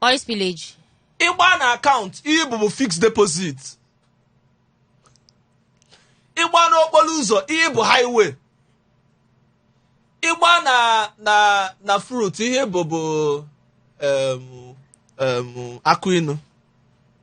oil spillage ị gbaa na account ihe ị bụ bụ fixed deposit ị gbaa n'okporo ụzọ ihe bụ highway ị gbaa na na na fruit ihe ị bụ bụ em, em, akụ inu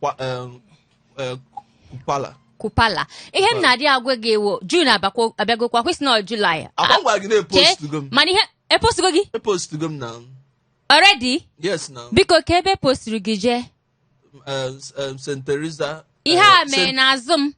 Kwa- eh, eh, Kupala. kupala ihe m na-adị agwa gị wụ June abakwa- abịagokwa kwa ị sị na July Ọ kwa m gwara gị na epostugo m. mana ihe epostugo gị Epostugo m na already yes na biko ka ebe e posturu gị jee eh, eh, St. Teresa. ihe eh, a mee n'azụ m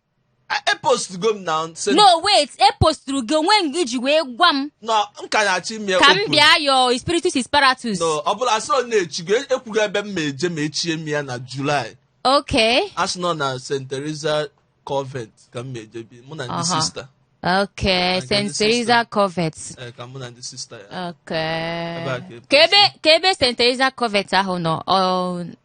epostugo m na nse no wait eposturu gị onwe gị ji wee gwa m na m ka na-achọ ime ka m bịa yo spiritus isparatus no ọ bụla asị ọ na echigo ekwugo ebe m ma eje ma echie m ya na July okay a sị na ọ na st teresa convent ka m ma eje bi mụ na ndị sista Okay, St. Teresa Convent. Eh, ka mụ na ndị sista ya. Okay. Ka ebe St. Teresa Convent ahụ nọ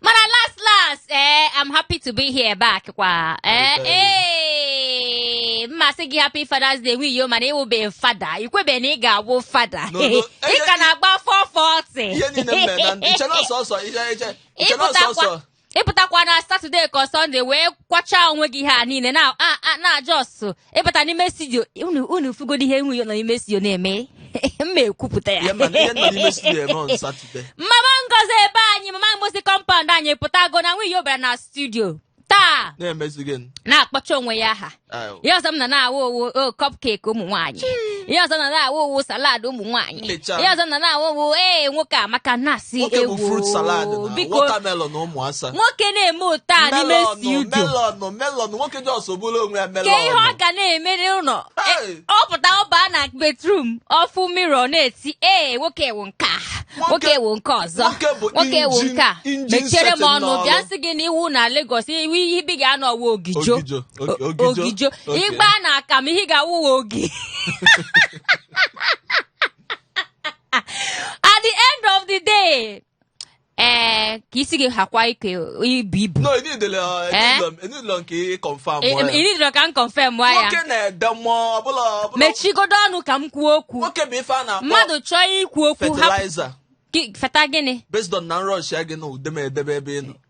mana last last ee eh, I'm happy to be here back kwa ee eh, ee eh, m ma-asị gị happy Father's Day nwiyo mana ị wụbe fada i kwebe na ị ga-awụ fada ị ka na-agba 440 ihe niile mme na ndị chere ọsọ ọsọ ihe eche chere ọsọ ọsọ ị pụtakwa na Saturday ka Sunday wee kwachaa onwe gị ha niile na just ị bata n'ime studio unu unu fugodi ihe onye nọ n'ime studio na-eme m ma-ekwupụta ya mama Ngozi ebe anyị mama Ngozi compound anyị pụtago na nwa ya bara na studio taa na-akpọcha onwe ya aha ihe ọzọ m na na-awụ owo oh, cupcake ụmụ nwaanyị ihe ọzọ na na-awụ owo salad ụmụ nwaanyị Nlecha. ihe ọzọ ọ na-awụ wụ ee nwoke amaka na-asị nwoke bụ ewo fruit salad na biko watermelon na ụmụ asa nwoke na-eme otu a n'ime melon studio melon melon nwoke just bụrụ onwe ya kee ihe ọ melon ga na-eme n'ụlọ Hey! E- ọ pụta ọ baa na bedroom ọ fụ mirror na-eti ee nwoke wụ nke a nwoke wụ nke ọzọ nwoke bụ nwoke wụ engine- nke a engine mechere m setting ọnụ n'ọrụ. bịa sị gị na iwu na Lagos iwu ebe ị ga-anọ wụ ogijo Ogijo, o- ogijo, ogijo okay. ị gbaa na akamụ ihe ị ga-awụ wụ ogi at the end of the day ee ka isi gị hakwa ike ibu ibu no enidela Eh? enidela nke confam ịdịrọ ka m confirm nwa ya nwoke na-ede mmụọ ọbụla ọbụla mechigodo ọnụ ka m kwuo okwu nwoke bụ ife a na-akpọ mmadụ chọọ ikwu okwu hapụ fertilizer gị- feta gịnị based on na nrọshịa gị na udeme edebe ebe ị nọ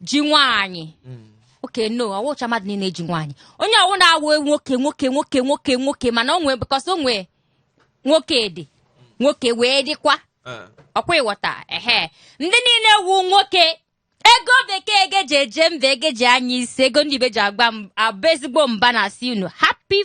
ji nwaanyị okay no ọ wụcha mmadụ niile ji nwaanyị onye ọ wụ na-awụ nwoke nwoke nwoke nwoke nwoke mana o nwee because o nwee nwoke dị nwoke wee dịkwa ọ kwa ị ghọta ehe ndị niile wu nwoke ego bekee ego e ji eje mba ego e ji anya isi ego ndị ibe ji agba m- abụ ezigbo mba na asị unu happy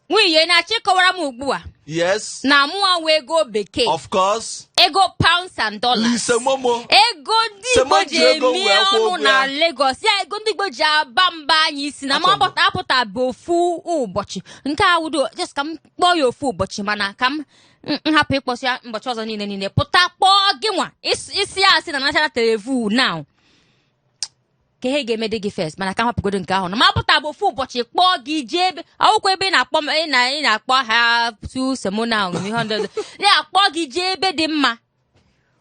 nwunye na-achọ ịkọwara m ugbu a yes na mụwa wụ ego bekee of course ego pounds and dollars ise momo ego ndị Sị igbo mụ ji ji ego eme wee kwụọ ọnụ ụgwọ na ya. Lagos ya ego ndị igbo ji aba mba anyị ị sị na m Achọrọ m. apụta apụta bụ ofu ụbọchị nke a wudo just ka m kpọọ ya ofu ụbọchị mana ka m m- m hapụ ịkpọsị ya ụbọchị ọzọ niile niile pụta kpọọ gị nwa Ịs- ịsị ya asị na national televu now ka ihe ga-eme dị gị first mana ka m hapụgodo nke ahụ na m pụta bụ ofu ụbọchị kpọọ gị jee ebe akwụkwọ ebe ị na-akpọ ị na ị na-akpọ ha tu semona ahụ ihe ndị ọzọ na-akpọ gị jee ebe dị mma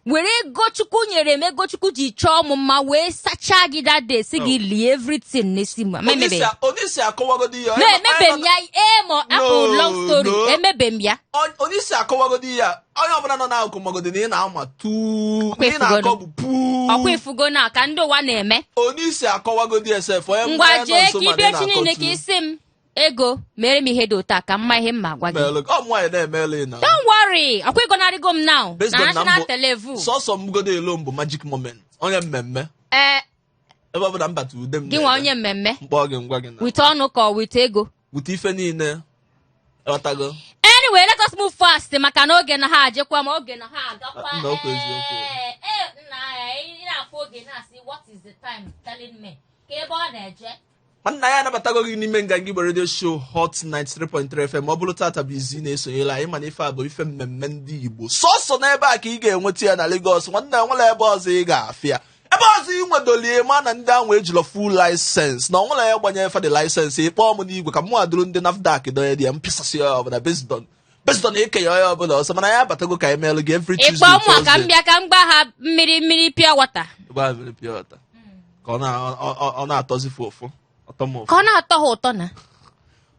were ego chukwu nyere m ego chukwu ji chọọ m mma wee sachaa gị that day sị gị lie everything n'isi m ma emebe ya onye isi akọwagodi ya na emebe m ya emo apụ No, long story no. emebe m ya onye isi akọwagodi ya onye ọbụla nọ n'akụkụ magodi na ị na-ama tuu Ọkwa ị na-akọ bụ puu ọkwa ị fụgo na ka ndị ụwa na-eme onye isi akọwagodi sef onye ngwa nọ jee nso ka ma na ị ịbịa na-akọ Chineke tuu. isi m ego mere m ihe dị ụta ka mma ihe m ma gwa gị Meelụ gị. ọ mụ nwaanyị na-emeela ị na don't worry ọkwa ị gọnarịgo m now Based na on na national mbụ- televu sọsọ mgodo elo mbụ magic moment onye mmemme ee ebe ọ bụla m bata ude m gị nwa na-ede, onye mmemme m kpọọ gị ngwa gị na wite ọnụ ka ọ wite ego wite ife niile ghọtago anyway let us move fast maka na oge na ha ajekwa ma oge na ha agakwa Ah, na okwu eziokwu. Eh, eh, nna, eh, ị na-afụ oge na-asị what is the time telling me ka ebe ọ na-eje nwanna anyị anabatago gị n'ime nganga igbo radio show hot 93.3 fm ọ bụrụ tata bụ izi ị na-esonyela anyị ma na ife a bụ ife mmemme ndị igbo sọsọ n'ebe a ka ị ga-enweta ya na Lagos nwanna enwelọ ebe ọzọ ị ga-afụ ya ebe ọzọ ị nwedolie ma na ndị ahụ ejilọ full license na o nwelọ onye gbanye fa the license ị kpọọ m n'igwe ka mụwa duru ndị nafdac donye there m pịasasị onye ọbụla based on based on ikenye onye ọbụla ọsọ ma na anyị abatago ka anyị meelụ gị every ị kpọọ Tuesday mụ ka m Thursday. bịa ka m gba ha mmiri mmiri pure water Gba mmiri pure water. ka ọ na- ọ- ọ- ọ na-atọzi fụ ụfụ ọtọ m ụfụ ka ọ na-atọ ha ụtọ na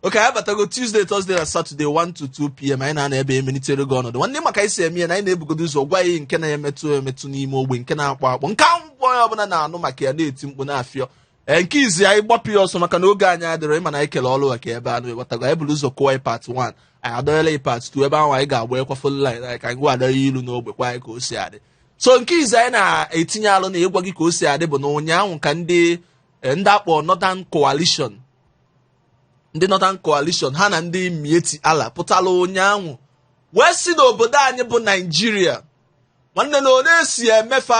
okay anyị abatago tuesday thursday na saturday 1 to 2 pm anyị na-anọ ebe a emelitere gị ọnọdụ nwanne ma ka anyị si eme ya na anyị na-ebugodo ụzọ gwa gị nke na-emetụ emetụ n'ime ogbe nke na-akpọ akpọ nke ahụ mkpọ onye ọbụla na-anụ maka ya na-eti mkpu na-afịọ ee nke izi anyị gbapụ ya ọsọ maka na oge anyị adịrọ ị ma na anyị kele ọrụ a eke ebe anọ ị ghọtago anyị bụrụ ụzọ kụwa part 1 anyị adọnyela ya part 2 ebe ahụ anyị ga-agbaghekwa phone line anyị ka anyị gwa adọghị ilu n'ogbe gwa anyị ka o si adị so nke izi anyị na-etinye alụ na ịgwa gị ka o si adị bụ na ụnyaahụ ka ndị eh, ndị a kpọ Northern Coalition ndị Northern Coalition ha na ndị Miyetti Allah pụtara ụnyaahụ wee sị n'obodo anyị bụ Naijiria nwanne na onye si emefa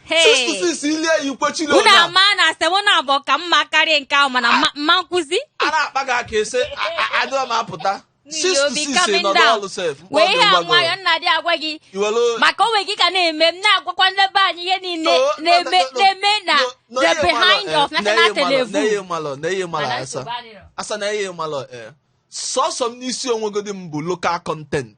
Hey! Sistu sisi ilie ya ikwe chile unu onye a. ama na asị m unu abụọ ka mma karịa nke ahụ mana mma- mma nkwụzi a na-akpa gị aka ese adịghị m apụta N'ihi sistu obi sisi coming nọdụ down. ọlụ sef wee ihe a nwayọ nna dị agwa gị iwelu maka onwe gị ka na-eme m na-agwakwa ndị be anyị ihe niile No, no, na-eme no, no, na-eme na no, no, the ihe malọ, behind eh, of na national ihe malọ, na ihe television malọ na ihe malọ Mana Asa nsogbu adịrọ. Asa na ihe ị malọ eh. sọsọ m n'isi onwegodi m bụ local content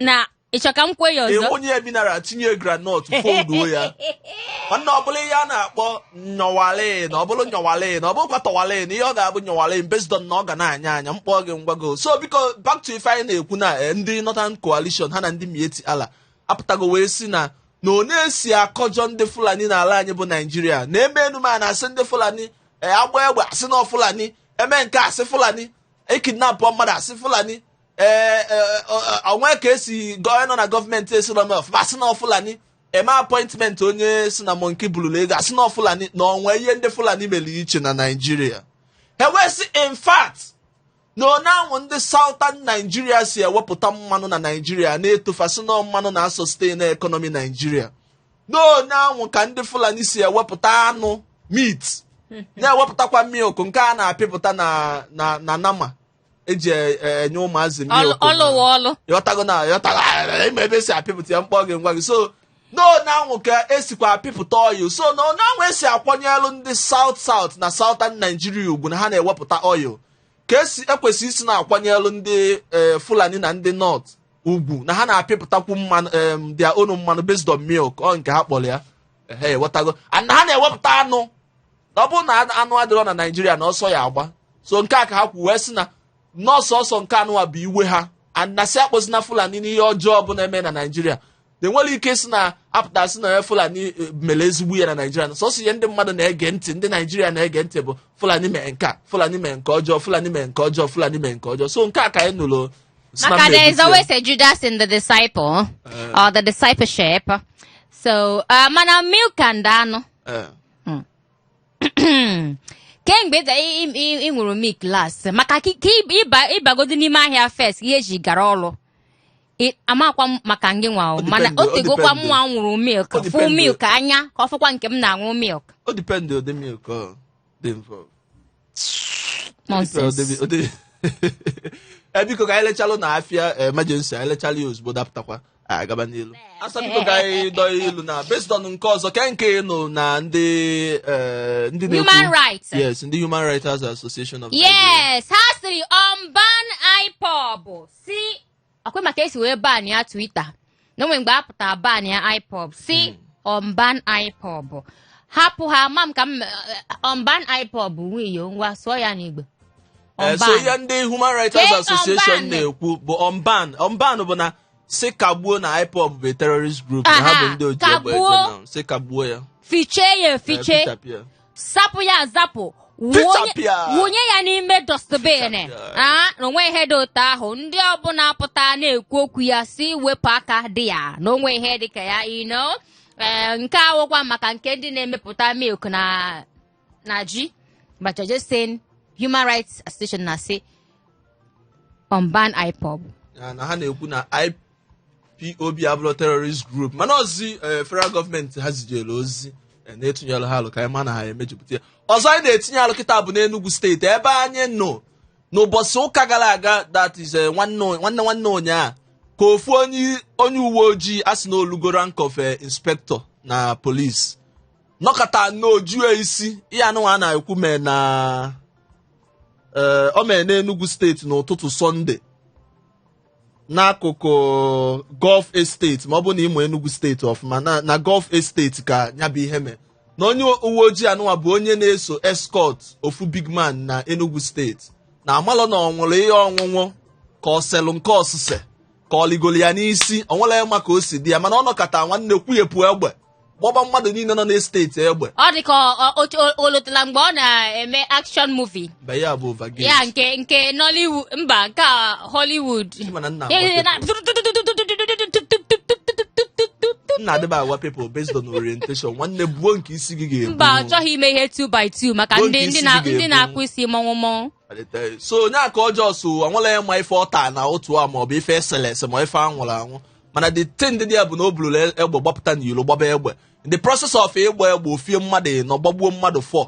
na ịchọ ka m kwuo ya ọzọ o nye ya mineral tinye groundnut folduo ya nwanne ọbụla ihe a na-akpọ nyọwale na ọbụla nyọwale na ọ bụkwa tọwale na ihe ọ ga-abụ nyọwale based on na ọ ga na-anya anya mkpọ gị ngwago so biko back to ife anyị na-ekwu na eh, ndị Northern Coalition ha na ndị Miyetti Allah apụtago wee sị na na ọ na-esi akọjọ ndị Fulani n'ala anyị bụ Naijiria na eme enume a na-asị ndị Fulani eh, agbaa egbe asị na Fulani emee nke a asị Fulani ekidnapụ mmadụ asị Fulani ee e, e, o nwee ka esi gọọ nọ na gọọmenti esiro m ọfụma asị na Fulani emee appointment onye sị na monkey bululu ego asị na Fulani na onwe ihe ndị Fulani mere iche na Naịjirịa ha wee sị in fact na onanwụ ndị Southern Nigeria si ewepụta mmanụ na Naịjirịa na-eto fa sị na mmanụ na-asustain economy Naịjirịa na onanwụ ka ndị Fulani si ewepụta anụ meat na-ewepụtakwa milk nke a na-apịpụta na na nama eji e- e- enye ụmụazị milk ọlụ okoma. ọlụ wụ ọlụ ị ghọtago na ị ghọtago ah, ịma ebe esi apịpụta ya mkpọ gị ngwa gị so na onanwụ ka esikwa apịpụta oil so na onanwụ esi akwanyelụ ndị South South na Southern naijiria ugwu na ha na-ewepụta oil ka esi ekwesị isi na-akwanyelụ ndị eh, fulani na ndị North ugwu na ha na-apịpụtakwu mmanụ em, their own mmanụ based on milk ọ nke ha kpọrọ ya ehe ị ghọtago and na ha na-ewepụta anụ na ọ bụrụ na anụ adịrọ na naijiria na ọsọ ya agba so nke a ka ha kwu wee sị na na ọ sọsọ nke anụwa bụ iwe ha na asị akpọzina fulani n'ihe ọjọọ ọbụna na-eme na naijiria na enwere ike si na apụta sị na onye fulani eh, mere ezigbo ihe na naijiria na sọsọ ihe ndị mmadụ na-ege ntị ndị naijiria na-ege ntị bụ fulani mee nke a fulani mee nke ọjọọ fulani mee nke ọjọọ fulani mee nke ọjọọ so nke a ka anyị nụrụ si na Maka mba there is ebute. always a Judas in the disciple or the discipleship. So, uh, mana milk and anụ. Eh. kemgbe ị ṅụrụ milk last maka ka ịbagodo n'ime ahịa first ihe eji gara ọrụ amakwa m maka ngị nwa mana o tegokwa m nwa ṅụrụ milk fụ milk anya ka ọ fọkwa nke m na-aṅụ milk ọ depend ụdị milk dị involved nonsense e biko ka anyị lechalụ na afịa emergency anyị lechaa ya ozugbo dapụtakwa anyị agaba n'ilu asa biko ka anyị dọọ ya ilu na based on nke ọzọ ke nke ị nụ na ndị eh, ndị na-ekwu- human rights yes ndị human rights association of Nigeria. yes ha sịrị unban IPOB si ọkwa ị ma ka e si wee ban ya Twitter na o nwe mgbe a pụtara ban ya ipob sị unban ipob hapụ ha ma m ka m unban ipob nwiyo ngwa sụọ ya n'igbo Eh, so ihe ndị Human Rights Kee Association Unban. na-ekwu bụ unban unban bụ na sị kagbuo na IPOB bụ a terrorist group na ha Aha, bụ ndị oji egbe eje kagbuo. na sị kagbuo ya fichie ya Eh, efiche fichapụ ya. zapụ ya azapụ wụnye ya n'ime dustbin a na o nwe ihe dị otu ahụ ndị ọbụla pụta na-ekwu okwu ya sị wepụ aka dị ya na o nwe ihe dị ka ya ino ee nke a wụkwa maka nke ndị na-emepụta milk na na ji but you're just saying human rights association na-asị unban ipob na ha na-ekwu na POB abụrọ terrorist group mana ozi eh, federal gọọmenti ha zijere ozi eh, na-atụnyere ha alo ka anyị ma na ha emejupụta ya ọzọ anyị na-etinye alụ kịta bụ n'Enugu steeti ebe anyị nọ n'ụbọchị ụka gara aga that is eh, nwanne nwanne nwanne ụnyaa ka ofu onye onye uwe ojii a sị na o lugo rank of eh, inspector na police nọkata n'ojue isi ihe anụnwa a na-ekwu mee na eh, o mee n'Enugu steeti n'ụtụtụ sọnde n'akụkụ Golf Estate ma ọ bụ na ị ma Enugu steeti ọfụma na na Golf Estate ka ya bụ ihe mee na onye uwe ojii anụnwa bụ onye na-eso escort ofu big man na Enugu steeti na amalọ na ọ ṅụrụ ihe ọṅụṅụ ka o selụ nke osise ka o ligoro ya n'isi o nwerọ onye ma ka o si dị ya mana ọ nọkata nwanne kwughepụ egbe gbaba mmadụ niile nọ n'esteti egbe ọ dị ka ọ- ọ- otu o- o lotala mgbe ọ na-eme action movie mba ya bụ ovagate ya nke nke nollywood mba nke a hollywood Ị ma na nna Ya- ya- agwa na- nna adịba agwa people based on orientation nwanne buo nke isi gị ga-ebu mba ọ chọghị ime ihe 2 by 2 maka Bụ ndị nke ndị isi na- gị ndị ga-ebu. na-akpụ isi mọnwụ mọnwụ so onye aka ọjọọ so anwụla ya ma ife ọta na otu a maọbụ ife e sele ese ma ife a ṅụrụ aṅụ mana the thing dị ya bụ na o buluru e- egbe gbapụta n'iro gbaba egbe in the process of ịgba egbe ofie mmadụ ịnọ gbagbuo mmadụ four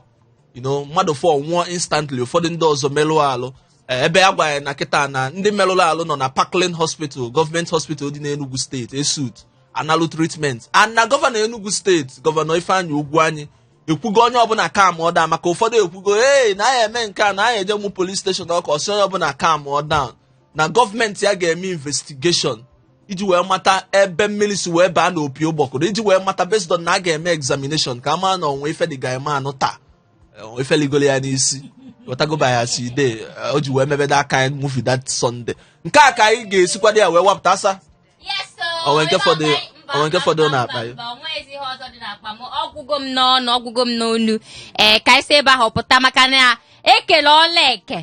you know mmadụ four nwụọ instantly ụfọdụ ndị ọzọ merụọ alụ Eh, ebe a gwara ya na kịta na ndị merụrụ alụ nọ na Parklane Hospital gọọmenti hospital dị n'Enugu steeti ESUT analụ treatment and na gọvanọ Enugu steeti gọvanọ Ifeanyi Ugwuanyi ekwugo onye ọbụla calmụọ down maka ụfọdụ ekwugo ee na anyị eme nke a na anyị eje mụọ police station ọkụ ọ sị onye ọbụla calmụọ down na gọọmenti ya ga-eme investigation iji wee mata ebe mmiri si wee baa n'opi ụgbọgụrụ iji wee mata based on na a ga-eme examination ka a mara na o nwe ife the guyman ta o nwe ife ligoro ya n'isi wetagoba ya si de o ji wee mebe that kind movie that Sunday nke a ka anyị ga-esi kwado ya wee wapụta asa o nwe nke fọdụ o nwe nke fọdụ n'akpa ya onweghịzi ihe ọzọ dị n'akpa m ọgwụgo m n'ọnụ ọgwụgo m n'ọnụ ee ka anyị si ebe ahụ pụta maka na ekele ọla eke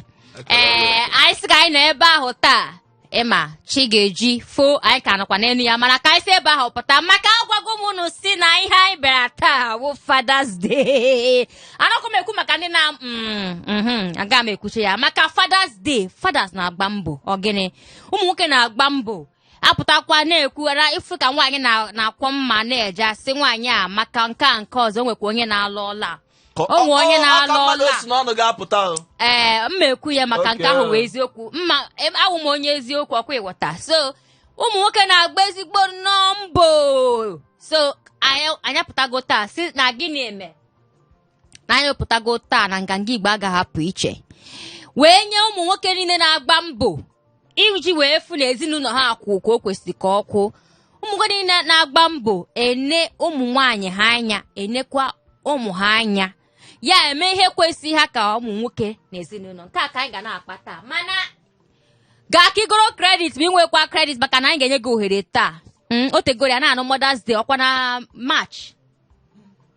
ee anyị sị ka anyị nọ ebe ahụ taa ị ma chi ga-eji foo anyị ka nọkwa n'elu ya mana ka anyị si ebe ahụ pụta maka agwago m unu sị na ihe anyị bịara taa wụ Father's Day anọkwa m ekwu maka ndị nna mm, mhm, aga m ekwuchi ya maka Father's Day fathers na-agba mbọ ọ gịnị ụmụ nwoke na-agba mbọ apụtakwa na-ekwughara ị fụ ka nwaanyị na- na-akwọ mma na-eje a sị nwaanyị a amaka nke a nke ọzọ nwekwa onye na-alụ ọla Ka- o nwee onye ọ- ọ- na-alụ aka mmadụ ọla. si n'ọnụ ga-apụta o. ee m ma ekwu ya maka nke Okay. ahụ wụ eziokwu mma em- awụ m onye eziokwu ọkwa ị ghọta so ụmụ nwoke na-agba ezigbo nnọọ mbọ so anyị anyị apụtago taa sị na gịnị eme na anyị pụtago taa na Nganga Igbo a ga-ahapụ iche wee nye ụmụ nwoke niile na-agba mbọ iji wee fụ na ezinụlọ ha akwụ ka o kwesịrị ka ọ kwụ ụmụ nwoke niile na-agba mbọ ene ụmụ nwaanyị ha anya enekwa ụmụ ha anya ya eme ihe kwesịrị ha ka ụmụ nwoke na ezinụlọ nke a ka anyị ga na-akpa taa mana gaa ka i goro credit ma ị nwekwa credit maka na anyị ga-enye gị ohere taa Mm, o tegoro ya na-anụ Mother's Day ọkwa na March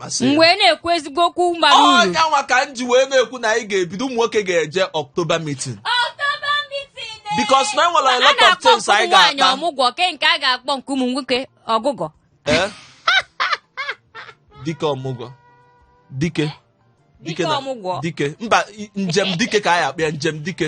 m wee na-ekwu ezigbo okwu bara uru ọ nya nwa ka m ji wee na-ekwu na anyị ga-ebido ụmụ nwoke ga-eje October meeting October meeting eh. because na e nwere a lot of things anyị ga-akpa ọmụgwọ ke nke a ga-akpọ nke ụmụ nwoke ọgụgọ eh? dike ọmụgwọ dike dike ọmụgwọ dike mba njem dike ka anyị akpọ ya njem dike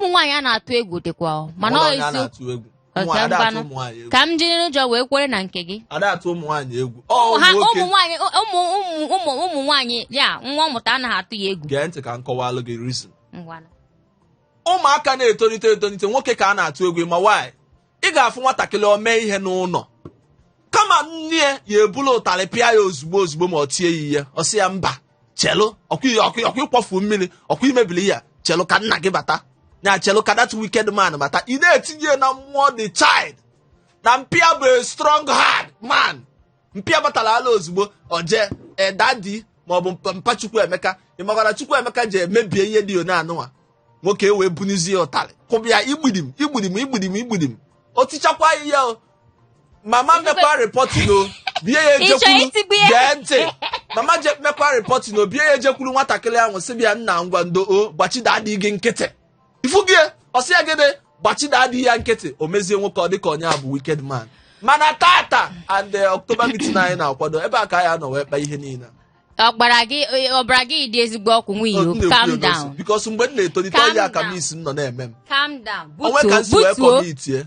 ụmụ nwaanyị a na-atụ egwu dịkwa ọ, mana ọ Ụmụ nwaanyị a eziokwu na-atụ egwu. Ụmụ Oke, ada atụ ngwanụ. ụmụ nwaanyị egwu. ka m jiri n'ụjọ wee kwere na nke gị Ada atụ ụmụ nwaanyị egwu. Ọ ụmụ ha nwoke. ụmụ nwaanyị ụmụ ụmụ ụmụ ụmụ nwaanyị ya nwa ọ mụta anaghị atụ ya egwu Gee ntị ka m kọwalụ gị reason. ngwanụ ụmụaka na-etonite etonite nwoke ka a na-atụ egwu ma nwaanyị ị ga-afụ nwatakịrị o mee ihe n'ụlọ kama nne ya ebulu ụtarị pịa ya ozugbo ozugbo ma ọ tie ya ihe ọ sị ya mba chelu ọkwa ị kwafu mmiri ọkwa i mebili ya chelu ka nna gị bata na chelu ka that wicked man bata ị na-etinye na mmụọ the child na mpa ya bụ a strong hard man mpa ya batala ozugbo o jee daddy maọbụ mpa Chukwuemeka ị makwara Chukwuemeka jee mebie ihe dị one anụnwa nwoke wee bunizie ụtarị kụba ya igbidim igbidim igbidim igbidim o tichakwa ihe o mama mekwa reporting ọ bịa Ị chọrọ ejekwuru itigbu ya? gee ntị mama je mekwa reporting ọ bịa ejekwuru nwatakịrị ahụ sị bịa nna ngwa ndo o gbachi daddy gị nkịtị ị fụgo ya ọ sị ya gịnị gbachi daddy ya nkịtị o mezie nwoke ọ dịka onye a bụ wicked man mana tata and eh, October meeting anyị na-akwado ebe a ka anyị anọ wee kpa ihe niile ọbara gị ọbara gị dị ezigbo ọkụ nwanne Ọ, m o calm na-ekwu ya down n'osi, because mgbe m na-etolite Calm ọ ya ka down. mumsy m nọ na-eme m calm down o nwe ka butuo m si wee butuo tonite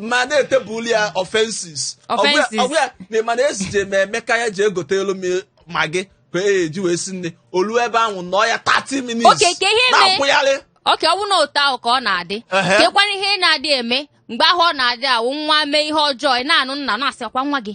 ma na-etebụl ya offenses Offenses. ọ gwa ya na ịma na ezije m Emeka ya je egotelu m Maggi ka e ji wee si nni o lu ebe ahụ nọ ya 30 minutes Okay, ka ihe mee- na-akwụgharị oke ọ bụrụ na otu ahụ ka ọ na-adị Ehe. kekwana ihe na-adị eme mgbe ahụ ọ na-adị awụ nwa mee ihe ọjọọ ị na-anụ nna na-asịkwa nwa gị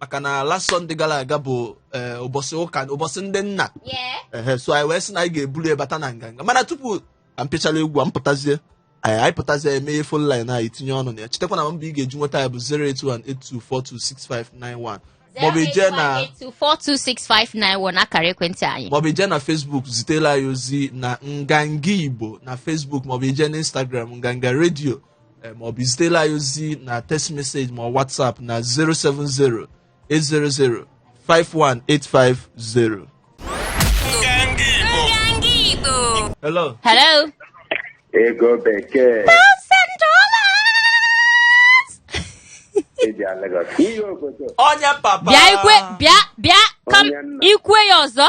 maka na last Sunday gara aga bụ eh, ụbọchị ụka ụbọchị ndị nna Yeah. ehe so anyị wee sị na anyị ga-eburu ya bata na nganga mana tupu ka m pịachara egwu a m pụtazie anyị anyị pụtazie emeghe phone line anyị tinye ọnụ na ya chetakwa nọmba ị ga-eji nweta ya bụ 08182426591 maọbụ ị je na 08182426591 akara ekwentị anyị. maọbụ ị je na Facebook zitela anyị ozi na nganga Igbo na Facebook maọbụ ị je na Instagram nganga redio eh, ma ọ bụ zitela anyị ozi na text message ma whatsapp na 070 800 51850 hello Hello. ego bekee eji Lagos ihe obodo onye papa Bịa ikwe bịa bịa ka m Onye nna. ikwe ya ọzọ.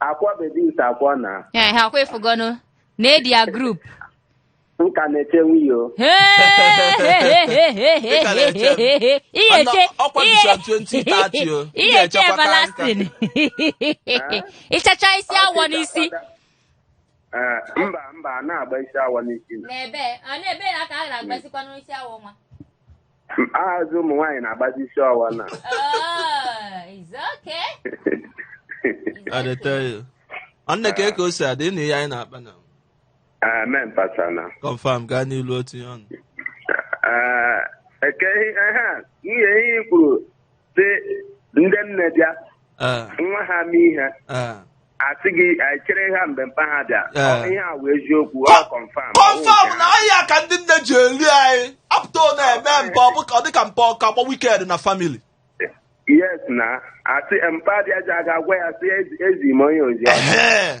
akwa bebi ite akwa na ee ha kwa ị fụgonụ na edi ya group nka na-eche nwunye o ihe eche ọkwa bishọp 2030 o ị ihe eche ga-echekwa ka nka. everlasting ịchacha isi awọ n'isi Ee, mba mba a na-agba isi awọ n'isi na n'ebe n'ebe ya ka a na-agbazikwanụ isi awọ nwa Azụ ụmụ nwaanyị na-agbazi isi awọ na. Oh, it's okay. It's I dey okay. tell you. Nwanne kee ke o si adị na ihe anyị na-akpa na Amen, Pastor na. confam gaa n'ilu otu ihe ọnụ. Ah, Eke ihe ihe a, ihe ihe i kwuru sị ndị nne bịa Eh, nwa ha mee ihe eh. asị gị anyị chere ha mgbe mpa ha bịa Eh. Ọ bụ ihe a wụ eziokwu ọ kọnfam kọnfam na ọ ihe a ka ndị nne ji eri anyị apụta ọ na-eme mpa ọ bụ ka ọ dị ka mpa ọ ka gba wicked na family yes na asị mpa bịa ji aga gwa ya sị ezi- ezi m onye ozi ahụ. Ehe.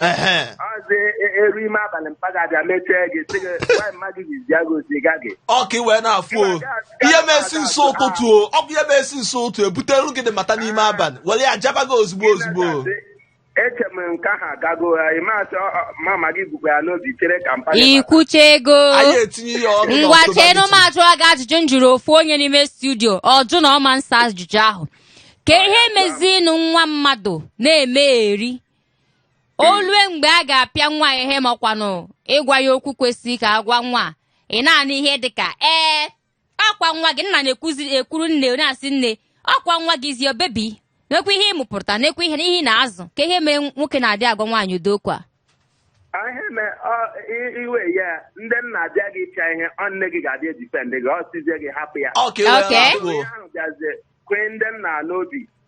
ehe ọzọ eru ime abalị mpa gị abịa mechie gị sị gị nwaanyị mma gị jizi agụ ozi ga gị ọ ka i wee na-afụ o ihe mesi n'isi ụtụtụ o ọ bụ ihe mesi n'isi ụtụ ebutere gị the matter n'ime abalị were ya jaba gị ozugbo ozugbo eche m nke ahụ agago ya ịmasị mama gị bukwa ya n'obi chere ka mpa gị bata. i kwuchago anyị etinye ya ọnụ ngwa n'ọtụba chenụ m ajụọ gị ajụjụ m jụrụ ofu onye n'ime studio ọ jụ na ọ ma nsa ajụjụ ahụ kee ihe mezinụ nwa mmadụ na-eme eri o lue mgbe a ga-apịa nwa ihe makwanụ ịgwa ya okwu kwesịrị ka a gwa nwa ị na-anụ ihe dị ka ee ọkwa nwa gị nna na-ekwuzi ekwuru nne na-asị nne ọkwa nwa gị see your baby nekwa ihe ị mụpụta nekwa ihe ị na-azụ ka ihe mere nwoke na-adị agwa nwaanyị ụdị okwu a ihe me ọ- i- iwe ya ndị nna abịa gị ịpịa ihe ọ nne gị ga-abịa edifendi gị ọ sịzie gị hapụ ya Ọ ka iwe Okay. na-atụ o. onye ahụ bịazie kwee ndị nna n'obi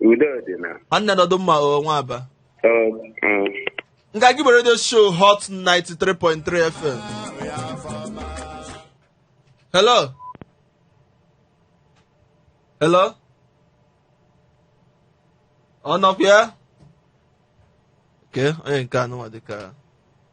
Udo dị na. nwanne nọdụ mma o nwa Aba Ọ, mm. nka gị bụ radio show hot 93.3 fm hello hello ọ nọkwa ya ke onye nke anụnwa dịka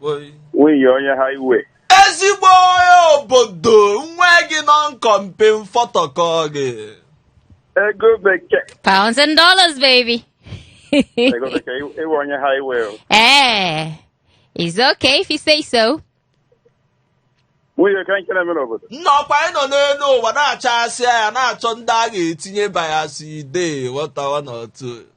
Woi. nwunye onye highway ezigbo onye obodo nwa gị no compare no photocopy ego bekee Pounds and dollars, baby. ego bekee iwe- iwe onye highway o. eh, it's okay if you say so. nwunye ka nke na-eme n'obodo nnọkwa anyị nọ n'elu ụwa na-achasị ya na-achọ ndị a ga-etinye bayasị ide wọtawa n'otu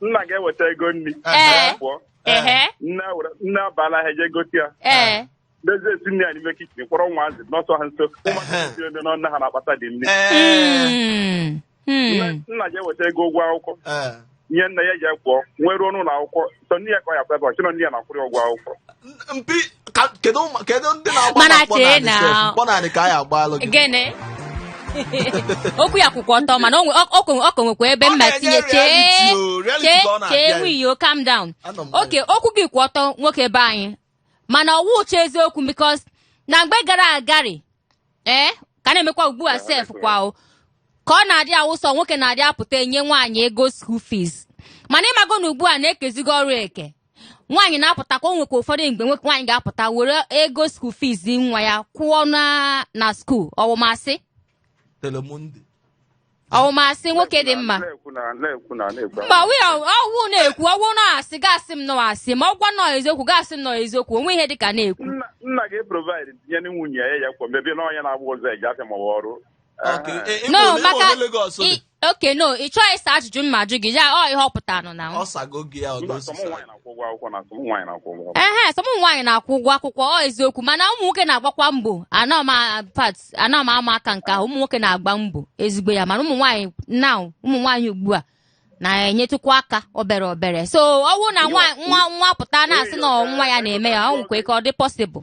nna ga-eweta ego nri Ee. pụọ ehe nne were- nne abaa n'ahịa je gote ya ee n'ezie esi nne ya n'ime kichin kpọrọ nwa azị nọsa ha nso ụmụaka Ehe. ndị na ọ nne ha na-akpata dị nri Ee. Mm. Mm. Nne- nna ga-eweta ego ụgwọ akwụkwọ Ee. nye nne ya je kwụọ nne eruo n'ụlọ akwụkwọ sọ nne ya ka ọ ya kwebe o chee na ọ nne ya na-akwụrụ ya ụgwọ akwụkwọ mpi ka- kedu ụmụ- kedu ndị na-agba Mana na mkpọ chee n'anị na- sef? mkpọ n'anị ka anyị gbalụ gị gịnị okwu ya kwụkwa ọtọ mana o nwe- ọ- ọ kwe- ọ ka nwekwa ebe Ọ mma na-enye tinye chee reality o, reality chee ka ọ na-abịa chee ya. nwayọ calm down Anọ m okay okwu gị kwụ ọtọ nwoke be anyị mana ọ wụcha eziokwu because na mgbe gara agari ee ka na-emekwa ugbu a sef kwa o ka ọ na-adị a wụ sọ nwoke na-adị apụta enye nwaanyị ego school fees mana ị mago na ugbu a na e kezigo ọrụ eke nwaanyị na-apụtakwa o nwekwa ụfọdụ mgbe nwoke nwaanyị ga-apụta were ego school fees nwa ya kwụọ na na school ọ wụ m asị telemundi ọ wụ m asị nwoke dị mma na-ekwu na na-ekwu na na-ekwu mba wi ọ wụ na-ekwu ọ wụ na ọ asị gị asị m na ọ asị ma ọ wụ na ọ eziokwu gị asị m na ọ eziokwu o nwe ihe dịka na-ekwu nna nna ga-eprovide tinye na nwunye ya ya kwa maybe na ọ nya na-agba ụzọ eje afịa ma ọ wụ ọrụ Okay, Aha. e- e- no ole- maka ole Lagos dị? i- okay no ị chọghị ịsa ajụjụ m na-ajụ gị ya ọ ihe ọ pụtara nọ na ọ sago gị ya Mba, ọdọ sọ ụmụ nwaanyị na-akwụ ụgwọ akwụkwọ na sọ ụmụ nwaanyị na-akwụ ụgwọ akwụkwọ. ehe sọ ụmụ nwaanyị na-akwụ ụgwọ akwụkwọ ọ eziokwu mana ụmụ nwoke na-agbakwa mbọ anọ m a- pat anọ m ama aka nke ahụ ụmụ nwoke na-agba mbọ ezigbo ya mana ụmụ nwaanyị na ụmụ nwaanyị ugbu a na-enyetụkwa aka obere obere so ọ bụrụ na nwa nwa nwa pụta na-asị na nwa ya na-eme ya o nwekwa ike ọ dị possible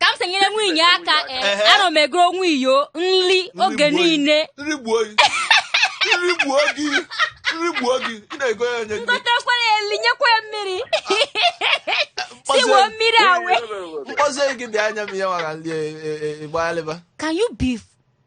ka m si enyere nwunye aka eh, Ehe. ana m egoro nwunye nri oge gbuo ya. niile nri gbuo gị nri gbuo gị nri gbuo gị ị na-ego ya nye gị ngotekwere eli nyekwa ya mmiri siwo mmiri awe mkpọzie gị bịa anya m ihe nwara nri ịgbalịba can you be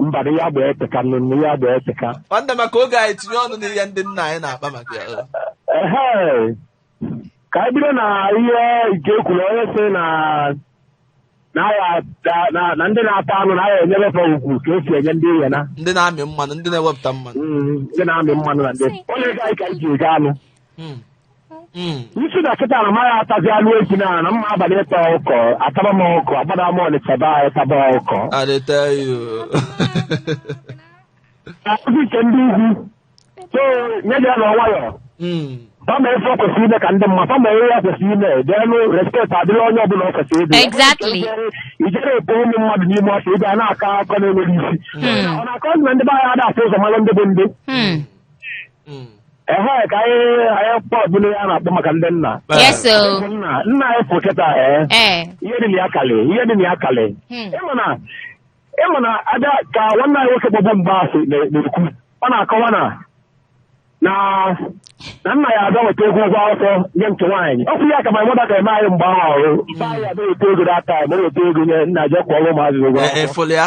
mba na ya gba ete aka nụ na ya gba ete aka nwanne maka oge anyị tinye ọnụ n'ihe ndị nna anyị na-akpa maka ya o. ehe ka anyị bido na ihe nke ekwuru onye sị na na ya- na- na- na ndị na-ata anụ na ya enyere fa ugwu ka esi enye ndị ihe na ndị na-amị mmanụ ndị na-ewepụta mmanụ Mm, ndị na-amị mmanụ na ndị onye ga anyị ka anyị ji ego anụ Mm. Mm. ị sị na kịta na m ama atazi anụ efi na na m ma agbalị ịta ọkụkọ ataba m ọkụkọ agbada m Ọnịcha be anyị taba ọkụkọ I dey tell you. akụzi nke ndị ugwu so nye gị ya na nwayọ Mm. fa ma ife ọ kwesịrị ime ka ọ dị mma fa ma ihe ya kwesịrị ime then respect adịrị onye ọbụla ọ kwesịrị ịdị Exactly. ijere epo ụmụ mmadụ n'ime ọsọ ịbịa na-akọ akụkọ na-enweghị isi ọ na-akọ na ndị be anyị ada afụ ụzọ mara ndị bụ ndị Hmm. Mm. ehe ka anyị anyị kpọ ọbụla ya na-akpa maka ndị nna Bye. yes o Bụ nna nna anyị fụ kịta ee ee ihe dị na ya kalị ihe dị na ya kalị Hmm. ịma na ịma na ada ka nwanne anyị nwoke gbọbụ mgbe asị na- na-ekwu ọ na-akọwa na na na nna ya abịa weta ego ụgwọ akwụkwọ nye nke nwaanyị ọ kwụ ya ka ma mụta ka eme anyị mgbe ahụ o ruo mgbe anyị abịa weta ego data ma weta ego nye nna jee kwụọrọ ụmụazị ụgwọ E- akwụkwọ efoli ya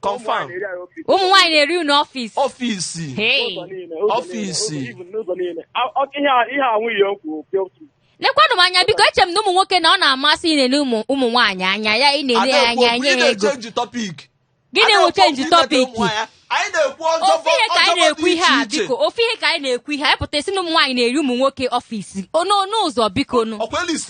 Confirm. ụmụ nwaanyị na-eri unu ọfịs ọfisi Hey. Ọfịsi. ihe anwụ ihe okwu lekwanụ m anya biko eche m na ụmụ nwoke na ọ na-amasị ị na-ele ụmụ ụmụ nwaanyị anya ya ị na-ele ya anya anyị enye ha ego na-echenji tọpik gịnị wụ chenji tọpiki anyị na-ekwu ọjọọ ofu ihe ka anyị na-ekwu ihe a biko ofu ihe ka anyị na-ekwu ihe anyị pụta a sị na ụmụ nwaanyị na-eri ụmụ nwoke ọfịs ono n'ụzọ biko nụ ọkwa elis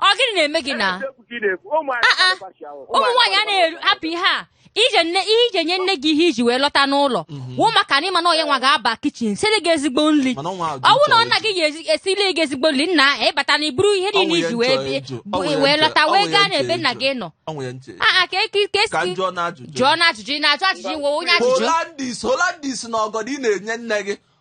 ọ gịnị na-eme gị na Eziokwu ka ị na-ekwu. Ụmụ anyị Ah, ah. na-agba mbọ ahụ. ụmụ nwaanyị a na-eru hapụ ihe a ije nne ihe iji enye nne gị ihe iji wee lọta n'ụlọ wụ maka na ịma na ọ ya nwa ga-aba kichin siri gị ezigbo nri Mana ọnwa ahụ dị ọnwụ na nchọ nne gị ga-esili gị ezigbo nri na ịbata na iburu ihe Ọnwụ niile ya iji wee nchọ bie- eju. bụ- Ọnwụ ya wee nchọ- lọta ọnwụ wee ya gaa nchọ n'ebe nne eju. gị nọ Ọ nwere nche. aa ka eke ka Ka esi njụọ na ajụjụ. jụọ na ajụjụ ị na-ajụ ajụjụ iwe onye ajụjụ Holandis Holandis na ọgọdọ ị na-enye nne gị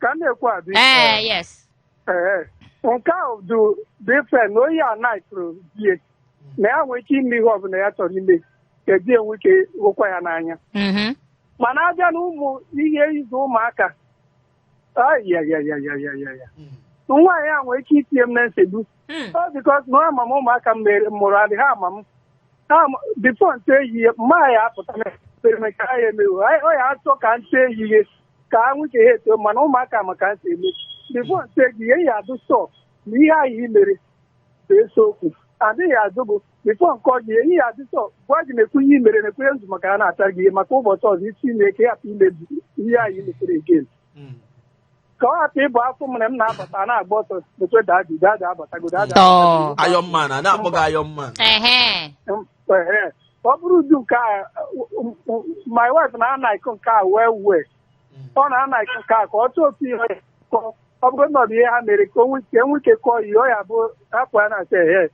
ka m na-ekwu adị ee yes ee nke ahụ dị different na onye a naịtụrụ di e na ya nwee ike ime ihe ọbụla ya chọrọ ime ka di e nwee ike hụkwa ya n'anya Mhm. mana abịa na ụmụ ihe ịzụ ụmụaka ayayayayayaya nwaanyị a nwee ike itinye m na nsogbu Hmm. Ọ because na ama m ụmụaka m mụrụ adị ha ama m Ha ma- before m tie ha ihe mma ya apụta na ekperime ka ha ya emewo Anyị- ọ ya achọ ka m tie ha ihe ka ha nwuche ha eto mana ụmụaka ma ka nte eme before m tie ha ihe ya adị sure na ihe ahụ i mere bụ eziokwu adịghị azụ bụ before nke ọjị ihe ya adị sure gwa gị na-ekwu ihe i mere na-ekwere nzu maka ha na-ata gị ihe maka ụbọchị ọzọ isi na-eke hapụ imebi ihe ahụ i metere again Hmm. ka ọ hapụ ịbụ a fụ m mụ na-abata a na-agba ọsọ eh daddy daddy abatago daddy Iron Man a na-akpọ gị Iron Man ehe Ehe. ọ bụrụ ụdị nke a m- m- my wife na-alike nke a wee wee ọ na-alike nke a ka ọ chọọ otu ihe ọ ya kọọ. ọ bụrụ na ọ bụ ihe ha mere ka o nwee ike enwe ike kọọ ihe ọ ya bụ hapụ ya na-asị ehe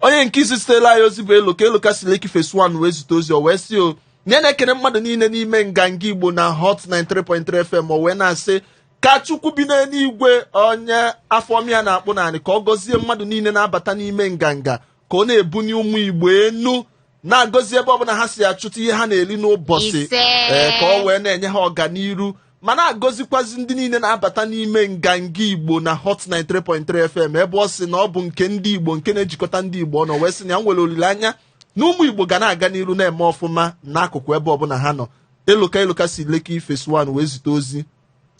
onye nke isi zitere anyị ozi bụ Eloka Eloka si Lekki Phase 1 wee zite ozi o wee sị o na ya na-ekene mmadụ niile n'ime nganga igbo na hot 93.3 fm o wee na-asị ka chukwu bi n'eluigwe onye afọma ya na-akpụ n'anị ka ọ gọzie mmadụ niile na-abata n'ime nganga ka ọ na-ebuni ụmụ igbo enu na-agọzi ebe ọbụla ha si achụta ihe ha na-eri n'ụbọchị Ise. ee, ka ọ wee na-enye ha ọganiru ma na-agọzikwazi ndị niile na-abata n'ime nganga igbo na hot 93.3 fm ebe ọ sị na ọ bụ nke ndị igbo nke na-ejikọta ndị igbo ọnụ wee sị na ya nwere olileanya na ụmụ igbo ga na-aga n'iru na-eme ọfụma n'akụkụ ebe ọbụla ha nọ eloka eloka si Lekki Phase 1 wee zite ozi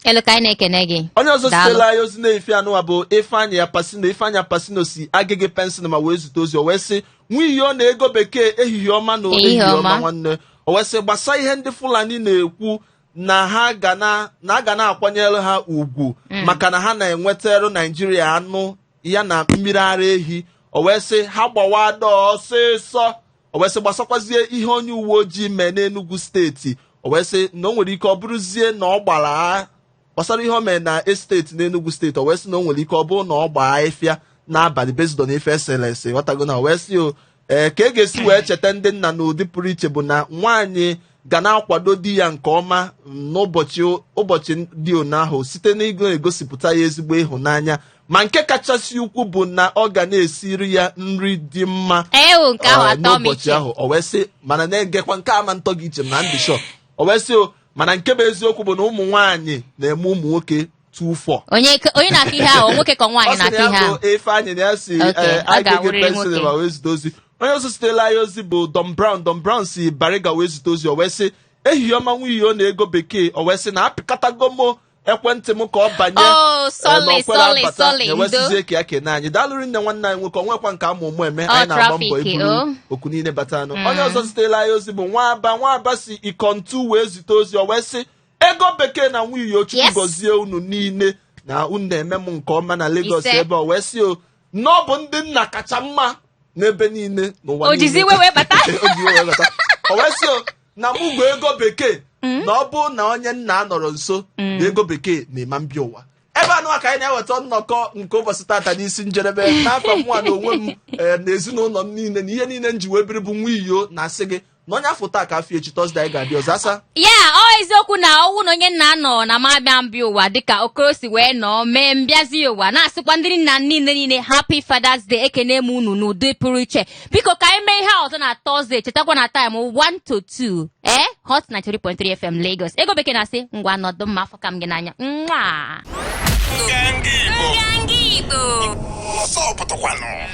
Eloka anyị na-ekene gị onye ọzọ Daalụ. zitelụ anyị ozi n'efifie anụwa bụ ifeanyị apasino ifeanyị apasino si Agege Pen Cinema wee zite ozi o wee sị Nwiyi na Ego Bekee ehihie ọma na Ehihie ehihie ọma ọma. nwanne o wee sị gbasa ihe ndị fulani na-ekwu na ha ga na na a ga na-akwanyere ha ugwu maka na ha na-ewetara naijiria anụ ya na mmiri ara ehi o wee sị ha gbawa door ọsịsọ o wee sị gbasakwazie ihe onye uwe ojii mee n'Enugu steeti o wee sị na o nwere ike ọ bụrụzie na ọ gbara gbasara ihe o mee na estate n'Enugu steeti o wee sị na o nwere ike ọ bụrụ na ọ gbaa ife a n'abalị based on ife e sere ese ghọtago na o wee sị o ee ka e ga-esi wee cheta ndị nna n'ụdị pụrụ iche bụ na nwaanyị ga na-akwado di ya nke ọma n'ụbọchị ụbọchị dị one ahụ site n'igosipụta ya ezigbo ịhụnanya ma nke kachasị ukwu bụ na ọ ga na-esiri ya nri dị mma ewu nke ahụ ah, atọ m n'ụbọchị iche ahụ o wee sị mana na-egekwa nke ama ntọ gị iche m na ndị shọ o wee sị o mana nke bụ eziokwu bụ na ụmụ nwaanyị na-eme ụmụ nwoke two four onye ke- onye na-akụ ihe ahụ nwoke ka ọ nwaanyị sị na na-akụ ihe ya ahụ bụ Ifeanyị na ya si Okay, eh, ọ anyị Agege ga-awụrịrị Pen Cinema nwoke. wee zite ozi onye ọzọ zitelụ anyị ozi bụ Don Brown Don Brown si Bariga wee zite ozi o wee sị ehihie ọma Nwiyi na Ego Bekee o wee sị na apịkatago m ekwentị m ka ọ banye Oh, eh, sorry, na o kwerọ sorry, abata, sorry, ya ewee sịzie ka ya kene anyị daalụ rinne nwanne anyị nwoke o nwekwa nke ama ụmụ eme Ọ anyị na-agba mbọ traffic, iburu oh. oku niile bata anụ onye ọzọ zitelụ anyị ozi bụ nwa aba nwa aba si Ikotun wee zite ozi o wee sị Ego Bekee na Nwiyi Chukwu Yes. gọzie unu niile na unu na-eme nke ọma na Lagos Ise. ebe o wee sị o na ọ bụ ndị nna kacha mma n'ebe niile n'ụwa o jizi iwe wee bata o wee sị na mụ gwa ego bekee hmm? na ọ bụ na onye nna anọrọ nso hmm. na ego bekee na ema m bịa ụwa ebe anụwa ka anyị na-eweta nnọkọ nke ụbọchị tata n'isi njedebe n'aka mụnwa na onwe m eh, na ezinụlọ m niile na ihe niile m ji wee biri bụ nwa iyo na-asị gị na onye afọ taa ka afọ echi tọzde anyị ga-adị ọzọ asa ya ọ eziokwu na ọ wụ na onye nna nọ na m abịa mbịa ụwa dịka okoro si wee nọọ mee m bịazịa ụwa na-asịkwa ndị nna niile niile happy fathers day ekene m unu n'ụdị pụrụ iche biko ka anyị mee ihe a ọzọ na tọzde chetakwa na taịm 1 to 2 ee hot 93.3 fm lagos ego bekee na-asị ngwa nọdụ mma afụka m gị n'anya nwa Nganga Igbo. Ọsọ pụtakwanụ.